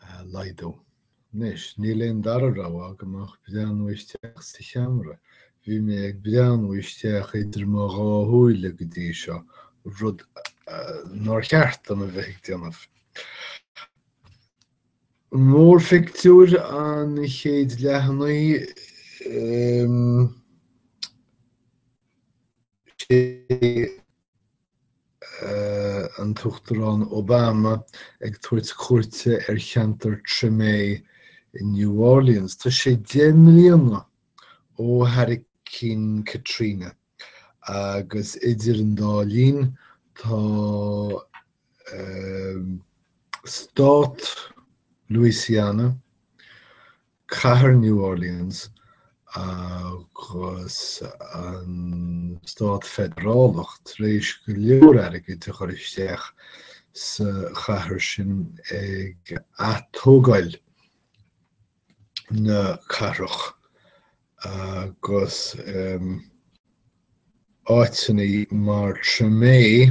a laghdú. Anois, níl aon dara rogha agam ach breathnú isteach sa cheamara. Bhí mé ag breathnú isteach idir mo dhá shúile go dtí seo, rud nár cheart dom a bheith ag déanamh. Mórphictiúr an chéid leathanaigh. sé an tUachtarán Obama ag tabhairt cuairte ar cheantar Tremé in New Orleans. Tá sé deich mbliana ó Hurricane Katrina agus idir an dá linn tá stát Louisiana, Cathair New Orleans agus an Stát Feidearálach tar éis go leor airgid a chur isteach sa chathair sin ag atógáil na cathrach agus um, áiteanna mar Tremé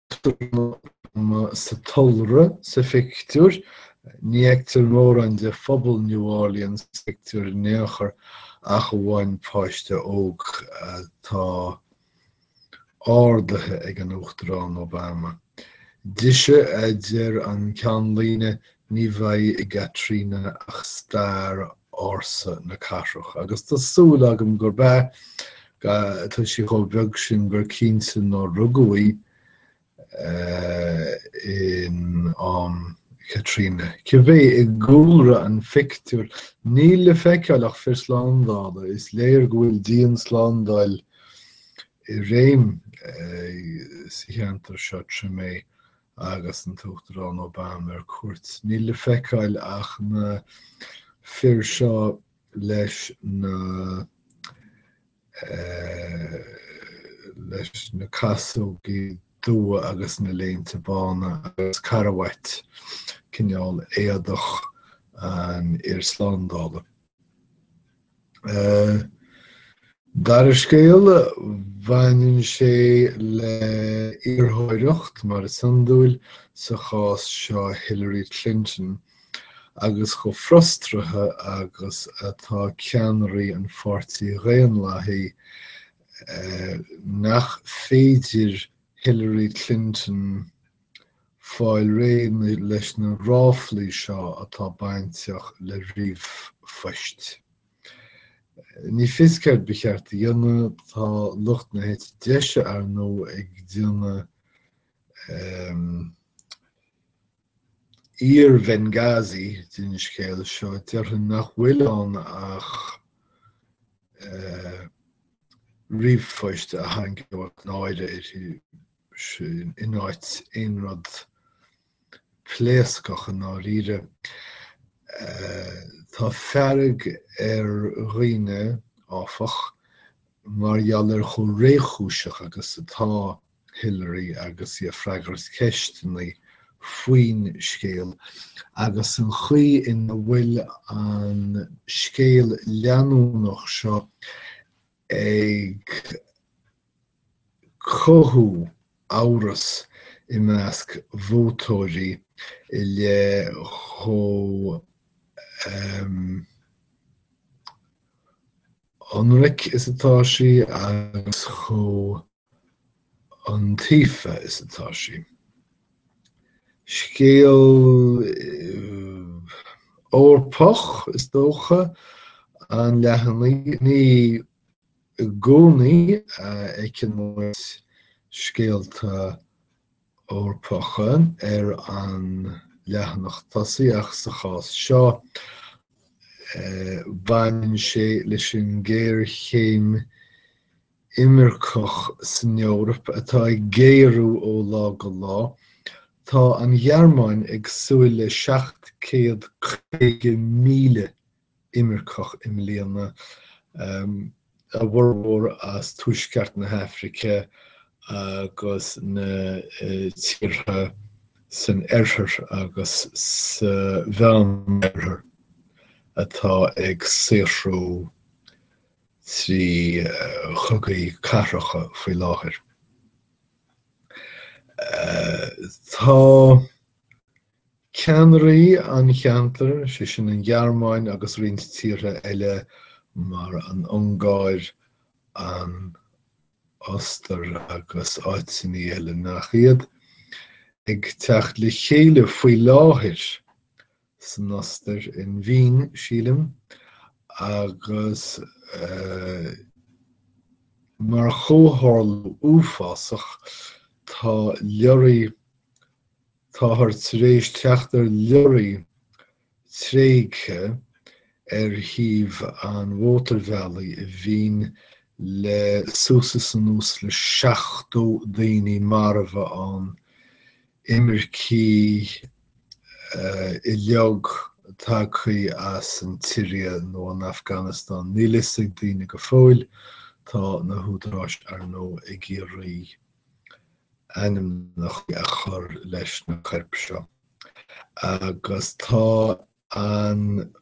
Sa tulra sa phictiúr, ní fheictear mórán de phobal New Orleans sa phictiúr in aon chor ach amháin páiste óg atá ardaithe ag an Uachtarán Obama. Dise, a deir an ceannlíne, Ní bheidh i gKatrina ach stair ársa na cathrach, agus tá súil agam gurb ea. Tá sí chomh beag sin gur cinnte nár rugadh í in am Katrina. Cibé, i gcúlra an phictiúir, níl le feiceáil ach fir slándála. Is léir go bhfuil dianslándáil i réim sa cheantar seo, Tremé agus an tUachtarán Obama ar cuairt. Níl le feiceáil ach na fir seo leis na leis na casógaí dubha agus na léinte bána agus carbhait, cineál éadach an fhir slándála. Dara scéal, baineann sé le iarrthóireacht, mar is iondúil sa chás seo, Hillary Clinton agus chomh frustraithe agus atá ceannairí an Pháirtí Dhaonlathaigh nach féidir Hillary Clinton, fáil réidh leis na ráflaí seo atá bainteach le ríomhphoist. Níl a fhios céard ba cheart a dhéanamh, tá lucht na heite deise, ar ndóigh, ag déanamh iar-Bhenghazi den scéal seo, déarfainn nach bhfuil ann ach ríomhphoist a tharraingeodh náire uirthi. in áit aon rud pléascach i ndáiríre. Tá fearg ar dhaoine, áfach, mar gheall ar chomh réchúiseach agus atá Hillary agus í ag freagairt ceisteanna faoin scéal agus an chaoi ina bhfuil an scéal leanúnach seo ag cothú amhras i measc vótóirí i leith chomh hionraic is atá sí agus chomh. iontaofa is atá sí. Scéal Eorpach, is dócha, an leathanaigh. Ní i gcónaí a fheiceann muid scéalta Eorpacha ar an leathanach tosaigh ach sa chás seo baineann sé leis an ghéarchéim imirceach san Eoraip atá ag géarú ó lá go lá, tá an Ghearmáin ag súil le 750,000 imirceach i mbliana, a bhformhór as tuaisceart na hAfraice agus na tíortha san oirthear agus sa mheánoirthear atá ag saothrú trí chogaí cathracha faoi láthair. Tá ceannairí an cheantair, sé sin an Ghearmáin agus roinnt tíortha eile mar an Ungáir, an Ostair agus áiteanna eile nach iad, ag teacht le chéile faoi láthair san Ostair, in Vín, sílim, agus mar chomhtharlú uafásach tá leoraí, táthar tar éis teacht ar leoraí tréigthe ar thaobh an mhótarbhealaigh i Vín le suas is anuas le 70 duine marbh ann, imircigh uilig tagtha as an tSiria nó an Afganastáin. Níl a fhios ag daoine go fóill. Tá na húdaráis, ar ndóigh, ag iarraidh ainmneacha a chur leis na coirp seo agus tá an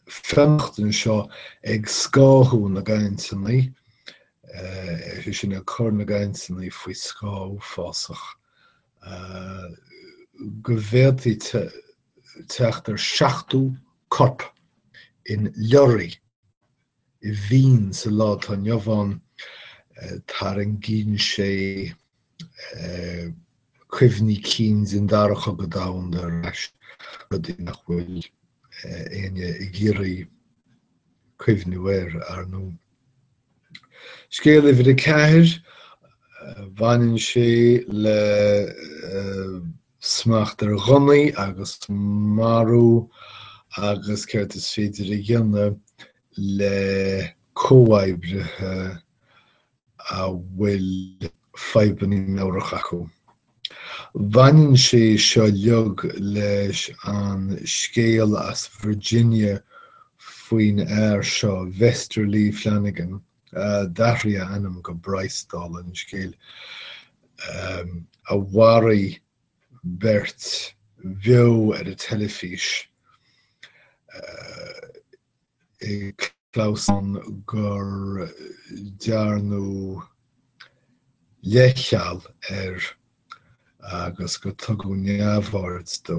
fhionnachtain seo ag scáthú na gcainteanna, is é sin ag cur na gcainteanna faoi scáth uafásach go bhféadfaí teacht ar 70 corp in leoraí i Vín sa lá atá inniu ann, tarraingíonn sé cuimhní cinn den Dara Cogadh Domhanda ar ais, rudaí nach bhfuil éinne ag iarraidh cuimhniú air, ar ndóigh. Scéal uimhir a ceathair, baineann sé le smacht ar ghunnaí agus marú agus céard is féidir a dhéanamh le comhoibrithe a bhfuil fadhbanna meabhrach acu. Baineann sé seo uilig leis an scéal as Virginia faoin fhear seo, Vester Lee Flanagan, a d'athraigh a ainm go Bryce, dála an scéil, a mharaigh beirt beo ar an teilifís. ag clamhsán gur dearnadh leithcheal air agus gur tugadh neamhaird dó,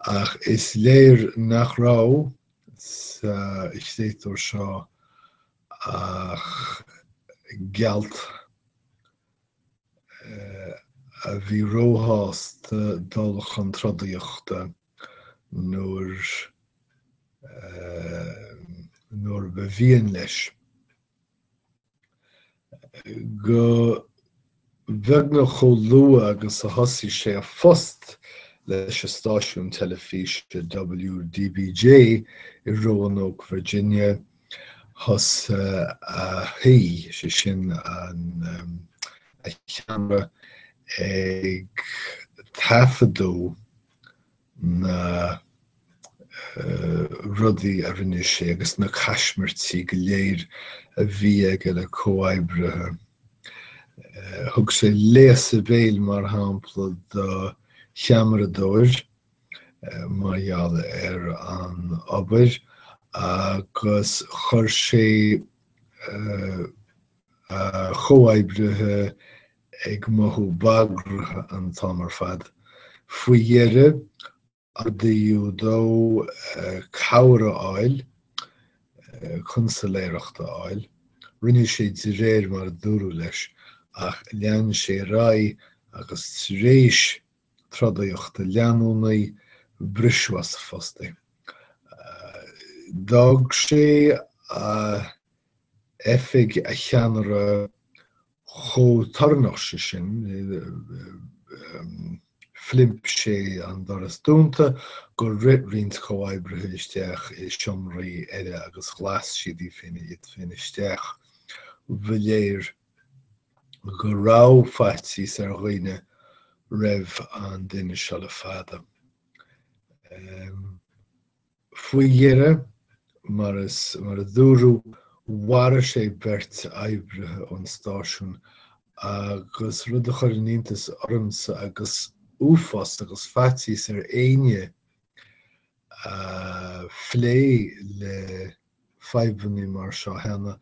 ach is léir nach raibh sa chréatúr seo ach gealt a bhí róshásta dul chun trodaíochta. nuair nuair ba mhian leis. Go beagnach chomh luath agus a thosaigh sé a phost leis an stáisiún teilifíse WDBJ i Roanoke, Virginia, thosaigh sé sin an um, a cheamara ag taifeadadh na rudaí a rinne sé agus na caismirtí go léir a bhí aige le comhoibrithe. Thug sé léasadh béil, mar shampla, do cheamaradóir mar gheall ar an obair agus chuir sé a chomhoibrithe ag mothú bagraithe an t-am ar fad. Faoi dheireadh, ordaíodh dó cabhair a fháil, cunsailéireacht a fháil. Rinne sé de réir mar a dúradh leis, ach lean sé ar aghaidh agus tar éis trodaíochta leanúnaí, briseadh as a phost é. D'fhág sé a oifig a cheannaire chomh torannach is é sin, phlimp sé an doras dúnta gur rith roinnt comhoibrithe isteach i seomraí eile agus ghlas siad iad féin isteach. Ba léir go raibh faitíos ar dhaoine roimh an duine seo le fada. Faoi dheireadh, mar a dúradh, mharaigh sé beirt oibrithe ón stáisiún agus, rud a chuireann iontas ormsa agus uafás agus faitíos ar éinne a phléigh le fadhbanna mar seo cheana,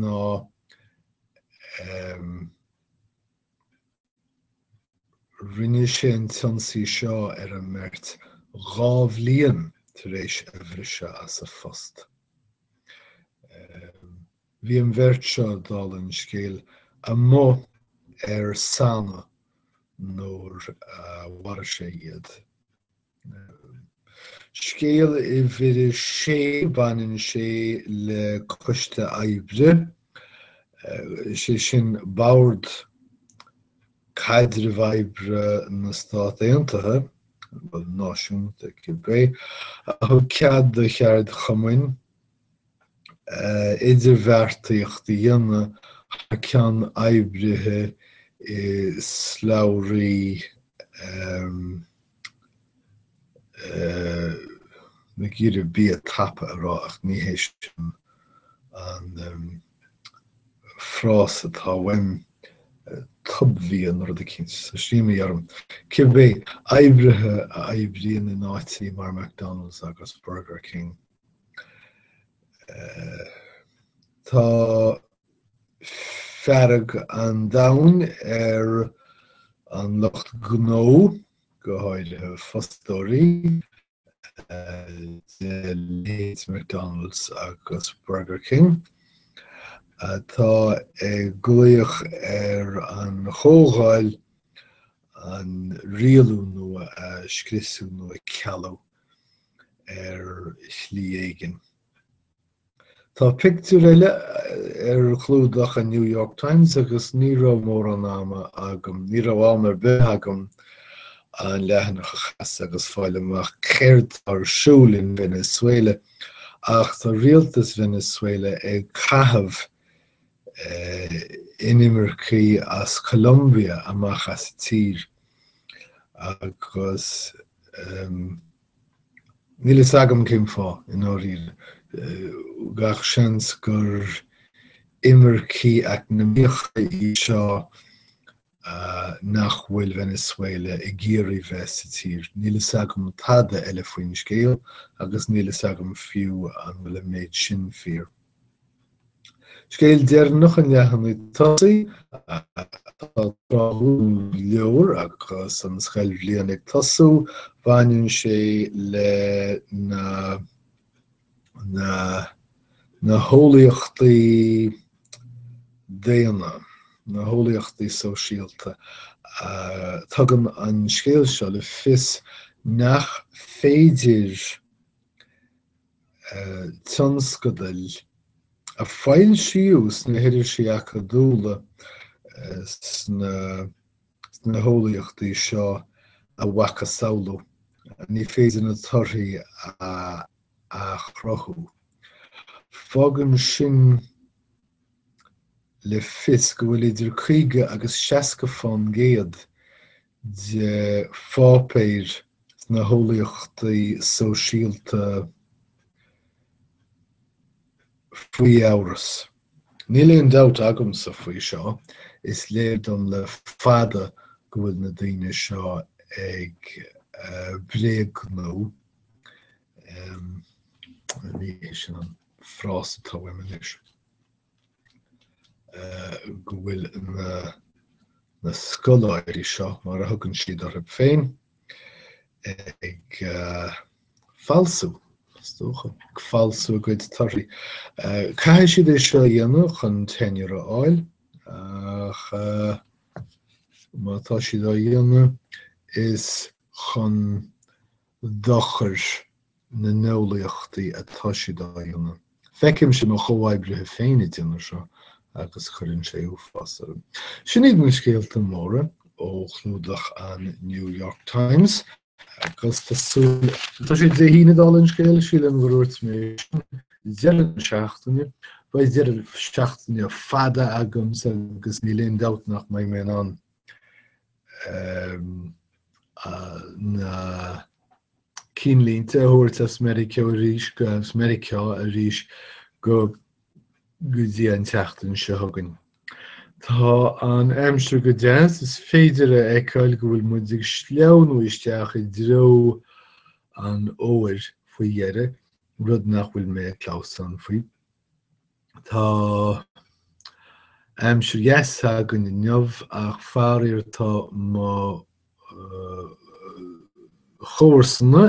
ná Rinne sé an t-ionsaí seo ar an mbeirt dhá bhliain tar éis a bhriseadh as a phost. Bhí an bheirt seo, dála an scéil, amuigh ar sannadh nuair a mharaigh sé iad. Scéal uimhir a sé, baineann sé le coiste oibre, is é sin Bord Caidrimh Oibre na Stát Aontaithe, náisiúnta cibé, a thug cead do cheardchumainn idirbheartaíocht a dhéanamh thar ceann oibrithe i slabhraí nach féidir bia tapa a rá ach ní hé sin an frása atá uaim, tob-bhia nó rud eicínt, tá sé imithe orm. Cibé oibrithe a oibríonn in áití mar McDonald's agus Burger King. Tá fearg an domhain ar an lucht gnó, go háirithe fostóirí, de leithéid McDonald's agus Burger King, atá ag glaoch ar an Chomhdháil an rialú nua a scriosadh nó a chealú. ar shlí éigin. Tá pictiúr eile ar chlúdach an New York Times agus ní raibh mórán ama agam, ní raibh am ar bith agam an leathanach a chas agus fáil amach céard atá ar siúl in Venezuela ach tá rialtas Venezuela ag caitheamh inimircigh as Colombia amach as an tír agus níl a fhios agam cén fáth i ndáiríre. Gach seans gur imircigh eacnamaíocha iad seo nach bhfuil Venezuela ag iarraidh bheith sa tír. Níl fhios agam tada eile faoin scéal agus níl fhios agam fiú an bhfuil an méid sin fíor. Scéal deireanach an leathanaigh tosaigh atá tráthúil go leor agus an scoilbhliain ag tosú, baineann sé le na. na, na heolaíochtaí daonna, na heolaíochtaí sóisialta. Uh, tugann an scéal seo le fios nach féidir uh, tionscadail a foilsíodh sna hirisí acadúla uh, sna sna heolaíochtaí seo a mhacasamhlú, ní féidir na torthaí a athchruthú. Fágann sin le fios go bhfuil idir 50 agus 60 fán gcéad de pháipéir sna heolaíochtaí sóisialta faoi amhras. Níl aon dabht agamsa faoi seo, is léir dom le fada go bhfuil na daoine seo ag bréagnú, ní hé sin an frása atá uaim anois, go bhfuil na scoláirí seo, mar a thugann siad orthu féin, ag falsú, is dócha, ag falsú a gcuid torthaí. Caithfidh siad é seo a dhéanamh chun tenure a fháil ach má tá siad á dhéanamh is chun dochair na n-eolaíochtaí atá siad á dhéanamh. Feicimse mo chomhoibrithe féin ag déanamh seo agus cuireann sé uafás orm. Sin iad na scéalta móra ó chlúdach an New York Times. Agus tá sé Dé hAoine dála an scéil, sílim go ndúirt mé sin, deireadh na seachtaine. Beidh deireadh seachtaine fada agamsa agus níl aon dabht nach mbeidh mé in ann na cinnlínte a thabhairt as Meiriceá arís, go go dtí an tseachtain seo chugainn. Tá an aimsir go deas, is féidir a fheiceáil go bhfuil muid ag sleamhnú isteach i dtreo an fhómhair faoi dheireadh, rud nach bhfuil mé ag clamhsán faoi. Tá aimsir dheas againn inniu ach faraor tá mo chomharsana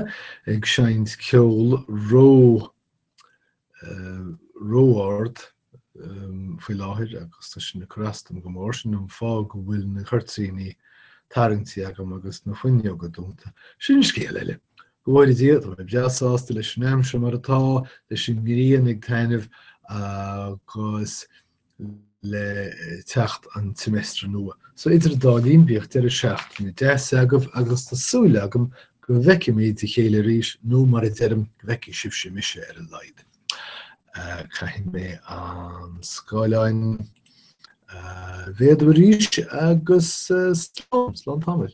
ag seinnt ceol ró ró-ard faoi láthair agus tá sin ag cur as dom go mór. Sin an fáth go bhfuil na cuirtíní tarraingtí agam agus na fuinneoga dúnta. Sin scéal eile. Go bhfóire Dia, tá mé breá sásta leis an aimsir mar atá, leis an ngrian ag taitneamh agus le teacht an tseimeastair nua. So idir an dá linn bíodh deireadh seachtaine deas agaibh agus tá súil agam go bhfeicfimid a chéile arís nó mar a deirim go bhfeicfidh sibhse mise ar a laghad. Uh, Caithfidh mé an scáileán uh, a mhéadú arís agus uh, slán, slán tamall.